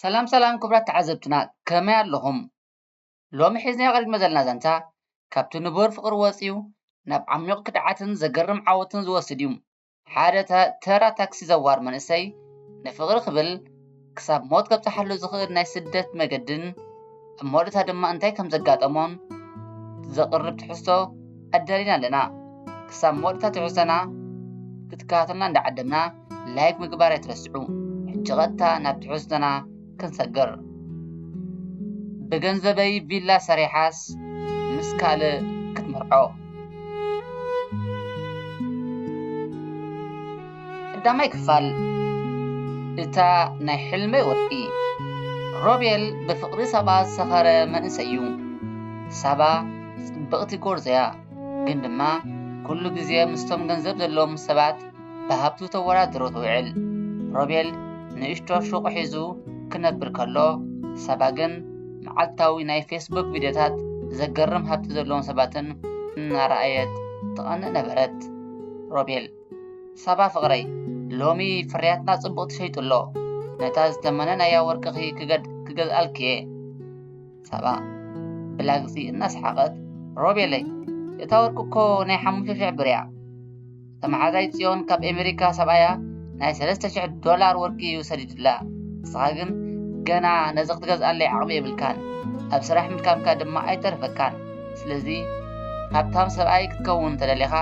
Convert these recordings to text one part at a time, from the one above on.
ሰላም ሰላም ክቡራት ተዓዘብትና ከመይ ኣለኹም? ሎሚ ሒዝናዮ ቀሪብና ዘለና ዛንታ ካብቲ ንቡር ፍቕሪ ወጺኡ ናብ ዓሚቕ ክድዓትን ዘገርም ዓወትን ዝወስድ እዩ። ሓደ ተራ ታክሲ ዘዋር መንእሰይ ንፍቕሪ ክብል ክሳብ ሞት ከብጽሓሉ ዝኽእል ናይ ስደት መገድን ኣብ መወዳእታ ድማ እንታይ ከም ዘጋጠሞን ዘቕርብ ትሕዝቶ ኣዳሊና ኣለና። ክሳብ መወዳእታ ትሕዝቶና ክትከታተሉና እንዳዓደምና ላይክ ምግባር ኣይትረስዑ። ሕጂ ቀጥታ ናብ ትሕዝቶና ክንሰግር። ብገንዘበይ ቪላ ሰሪሓስ ምስ ካልእ ክትምርዖ ቀዳማይ ክፋል እታ ናይ ሕልመይ ወርቂ ሮቤል ብፍቕሪ ሳባ ዝሰኸረ መንእሰይ እዩ። ሳባ ጽብቕቲ ጎርዞ እያ፣ ግን ድማ ኩሉ ግዜ ምስቶም ገንዘብ ዘለዎም ሰባት ብሃብቱ ተወዳድሮ ትውዕል። ሮቤል ንእሽቶ ሹቕ ሒዙ ክነብር ከሎ፣ ሳባ ግን መዓልታዊ ናይ ፌስቡክ ቪድዮታት ዘገርም ሃብቲ ዘለዎም ሰባትን እናረኣየት ትቐንእ ነበረት። ሮቤል። ሳባ ፍቅረይ ሎሚ ፍርያትና ጽቡቅ ተሸይጡ ኣሎ ነታ ዝተመነናያ ወርቅኺ ክገዝኣልኪ'የ። ሳባ ብላግጺ እናሰሓቀት ሮቤለይ እታ ወርቂ እኮ ናይ ሓሙሽተ ሽሕ ብር'ያ እታ መሓዛይ ጽዮን ካብ ኣሜሪካ ሰብኣያ ናይ ሰለስተ ሽሕ ዶላር ወርቂ እዩ ሰዲዱላ ንስኻ ግን ገና ነዚ ክትገዝኣለይ ዓቅሚ የብልካን ኣብ ስራሕ ምድካምካ ድማ ኣይተርፈካን ስለዚ ሃብታም ሰብኣይ ክትከውን እንተደሊኻ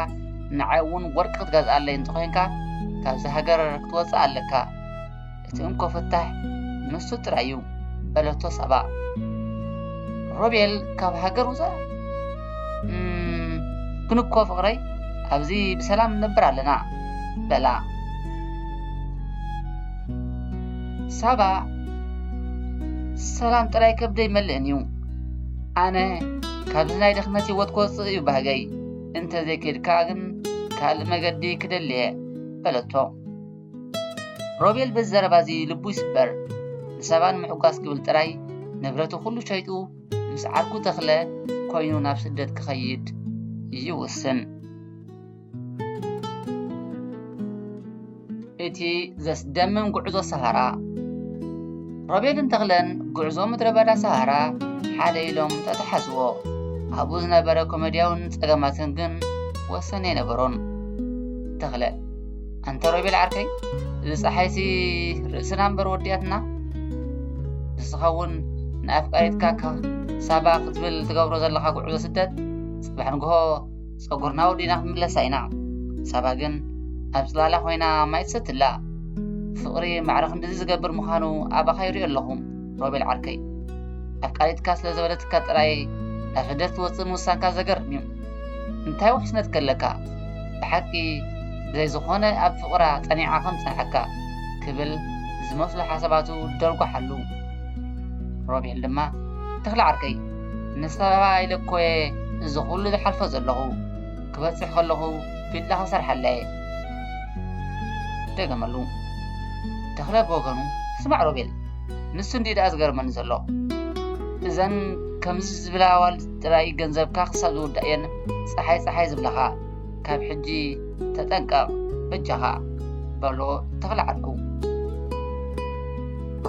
ንዓይ እውን ወርቂ ክትገዝኣለይ እንተኾይንካ ካብዚ ሃገር ክትወፅእ ኣለካ እቲ እንኮ ፍታሕ ንሱ ጥራይ እዩ በለቶ ሳባ ሮቤል ካብ ሃገር ውፃእ ግን እኮ ፍቕረይ ኣብዚ ብሰላም ንነብር ኣለና በላ ሳባ ሰላም ጥራይ ከብደይ መልእን እዩ ኣነ ካብዚ ናይ ድኽመት ህይወት ክወፅእ እዩ ባህገይ እንተዘይከድካ ግን ካልእ መገዲ ክደሊ እየ በለቶ ሮቤል በዚ ዘረባ እዚ ልቡ ይስበር ንሰባ ንምሕጓስ ክብል ጥራይ ንብረቱ ኩሉ ሸይጡ ምስ ዓርኩ ተኽለ ኮይኑ ናብ ስደት ክኸይድ ይውስን እቲ ዘስደምም ጉዕዞ ሰሃራ ሮቤልን ተኽለን ጉዕዞ ምድረ በዳ ሰሃራ ሓደ ኢሎም ተተሓዝዎ ኣብኡ ዝነበረ ኮሜድያውን ጸገማትን ግን ወሰን ኣይነበሮን ተኽለ ኣንተ ሮቤል ዓርከይ እዚ ፀሓይሲ ርእስና እምበር ወዲያትና ንስኻ እውን ንኣፍቃሪትካ ሳባ ክትብል ትገብሮ ዘለኻ ጉዕዞ ስደት ጽባሕ ንግሆ ጸጉርና ወዲእና ክንምለሳ ኢና ሳባ ግን ኣብ ጽላላ ኮይና ማይ ትሰቲ ኣላ ፍቅሪ ማዕረ ክንድዚ ዝገብር ምዃኑ ኣባኻ ይሪኦ ኣለኹ ሮቤል ዓርከይ ኣፍቃሪትካ ስለ ዘበለትካ ጥራይ ናብ ሕደር ትወጽእ ምውሳንካ ዘገርም እዩ እንታይ ውሕስነት ከለካ ብሓቂ ብዘይ ዝኾነ ኣብ ፍቕራ ጸኒዓ ከም ትጸንሓካ ክብል ዝመስሉ ሓሳባቱ ደርጓሓሉ ሮቤል ድማ ተኽለ ዓርከይ ምስ ኣበባ ኢለ እኮ እየ እዚ ኹሉ ዝሓልፎ ዘለኹ። ክበጽሕ ከለኹ ቪላ ክሰርሓላ እየ። ደገመሉ። ተኽለ ብወገኑ ስማዕ ሮቤል፣ ንሱ እንድዩ ደኣ ዝገርመኒ ዘሎ። እዘን ከምዚ ዝብላ ኣዋልድ ጥራይ ገንዘብካ ክሳብ ዝውዳእ እየን ጸሓይ ጸሓይ ዝብላኻ። ካብ ሕጂ ተጠንቀቕ በጃኻ፣ በሎ ተኽለ ዓርኩ።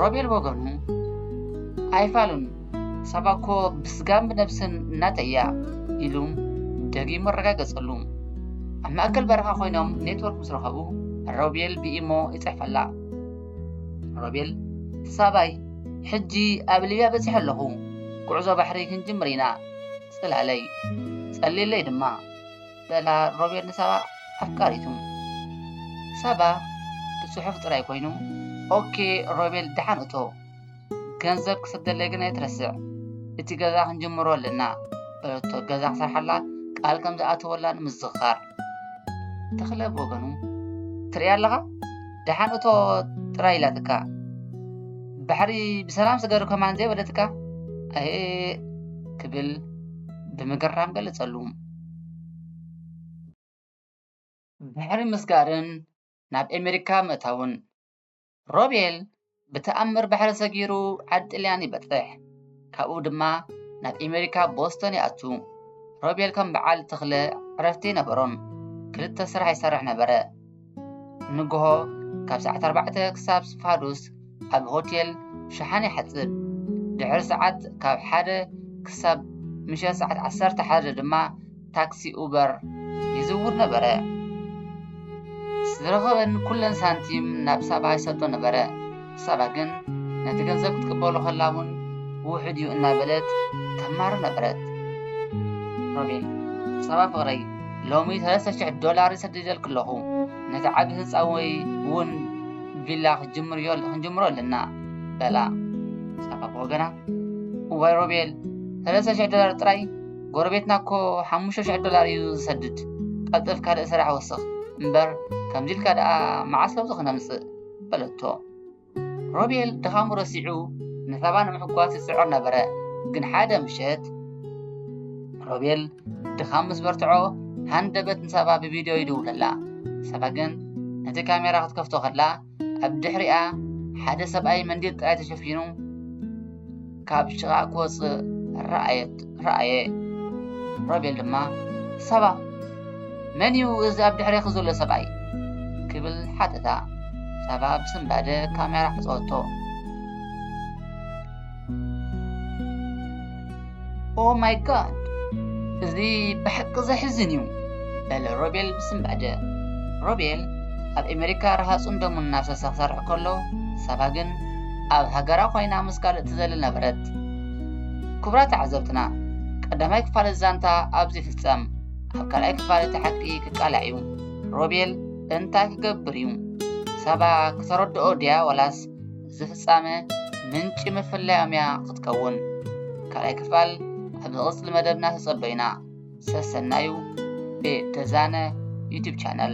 ሮቤል ብወገኑ ኣይፋሉን ሳባ እኮ ብስጋን ብነብስን እናተይ እያ ኢሉ ደጊሙ ኣረጋገጸሉ። ኣብ ማእከል በረኻ ኮይኖም ኔትወርክ ምስ ረኸቡ ሮቤል ብኢሞ ይጽሕፈላ። ሮቤል ሳባይ ሕጂ ኣብ ሊብያ በጺሐ ኣለኹ፣ ጉዕዞ ባሕሪ ክንጅምር ኢና፣ ጽላለይ፣ ጸልይለይ ድማ በላ ሮቤል ንሳባ ኣፍቃሪቱ። ሳባ ብጽሑፍ ጥራይ ኮይኑ ኦኬ ሮቤል ደሓን እቶ። ገንዘብ ክሰደለይ ግን ኣይትረስዕ እቲ ገዛ ክንጅምሮ ኣለና በለቶ ገዛ ክሰርሓላ ቃል ከም ዝኣተወላ ንምዝኻር ተኽለ ብወገኑ ትርኢ ኣለኻ ደሓን እቶ ጥራይ ኢላትካ ባሕሪ ብሰላም ስገሩ ከማን ዘይበለትካ ኣየ ክብል ብምግራም ገለጸሉ ባሕሪ ምስጋርን ናብ ኣሜሪካ ምእታውን ሮቤል ብተኣምር ባሕሪ ሰጊሩ ዓዲ ጥልያን ይበጽሕ። ካብኡ ድማ ናብ ኣሜሪካ ቦስቶን ይኣቱ። ሮቤል ከም በዓል ተኽለ ዕረፍቲ ኣይነበሮን። ክልተ ስራሕ ይሰርሕ ነበረ። ንግሆ ካብ ሰዓት ኣርባዕተ ክሳብ ስፋዱስ ኣብ ሆቴል ሸሓኒ ይሓጽብ። ድሕሪ ሰዓት ካብ ሓደ ክሳብ ምሸት ሰዓት ዓሰርተ ሓደ ድማ ታክሲ ኡበር ይዝውር ነበረ። ዝረኸበን ኩለን ሳንቲም ናብ ሳባ ይሰዶ ነበረ። ሳባ ግን ነቲ ገንዘብ ክትቅበሎ ከላ እውን ውሑድ እዩ እናበለት ተማሩ ነበረት። ሮቤል ሳባ ፍቕረይ ሎሚ ሰለስተ ሽሕ ዶላር ይሰድደልክ ኣለኹ ነቲ ዓቢ ህንፃ ወይ እውን ቪላ ክንጅምሮ ኣለና በላ ሳባ ብወገና እዋይ ሮቤል ሰለስተ ሽሕ ዶላር ጥራይ ጎረቤትና እኮ ሓሙሽተ ሽሕ ዶላር እዩ ዝሰድድ ቀልጥፍ ካልእ ስራሕ ወስኽ እምበር ከምዚ ኢልካ ደኣ መዓስ ለውጢ ክነምጽእ በለቶ ሮቤል ድኻሙ ረሲዑ ንሳባ ንምሕጓስ ይጽዕር ነበረ ግን ሓደ ምሸት ሮቤል ድኻም ምስ በርትዖ ሃንደበት ንሳባ ብቪድዮ ይድውለላ ሳባ ግን ነቲ ካሜራ ክትከፍቶ ከላ ኣብ ድሕሪኣ ሓደ ሰብኣይ መንዲል ጥራይ ተሸፊኑ ካብ ሽቓ ክወፅእ ረኣየ። ሮቤል ድማ ሳባ መን እዩ እዚ ኣብ ድሕሬኺ ዘሎ ሰብኣይ ክብል ሓተታ። ሳባ ብስንባደ ካሜራ ዓፀወቶ። ኦ ማይ ጋድ እዚ ብሓቂ ዘሕዝን እዩ በለ ሮቤል ብስንባደ ሮቤል ኣብ ኣሜሪካ ረሃፁን ደሙን እናፍሰሰ ክሰርሕ ከሎ ሳባ ግን ኣብ ሃገራ ኮይና ምስ ካልእ ትዘሊ ነበረት ክቡራት ተዓዘብትና ቀዳማይ ክፋል ዛንታ ኣብዚ ፍፀም ኣብ ካልኣይ ክፋል እቲ ሓቂ ክቃላዕ እዩ ሮቤል እንታይ ክገብር እዩ ሳባ ክተረድኦ ድያ ዋላስ እዚ ፍጻመ ምንጪ ምፍላዮም እያ ክትከውን። ካልኣይ ክፋል ኣብ ዝቕጽል መደብና ተጸበዩና። ሰሰናዩ ብተዛነ ዩቱብ ቻነል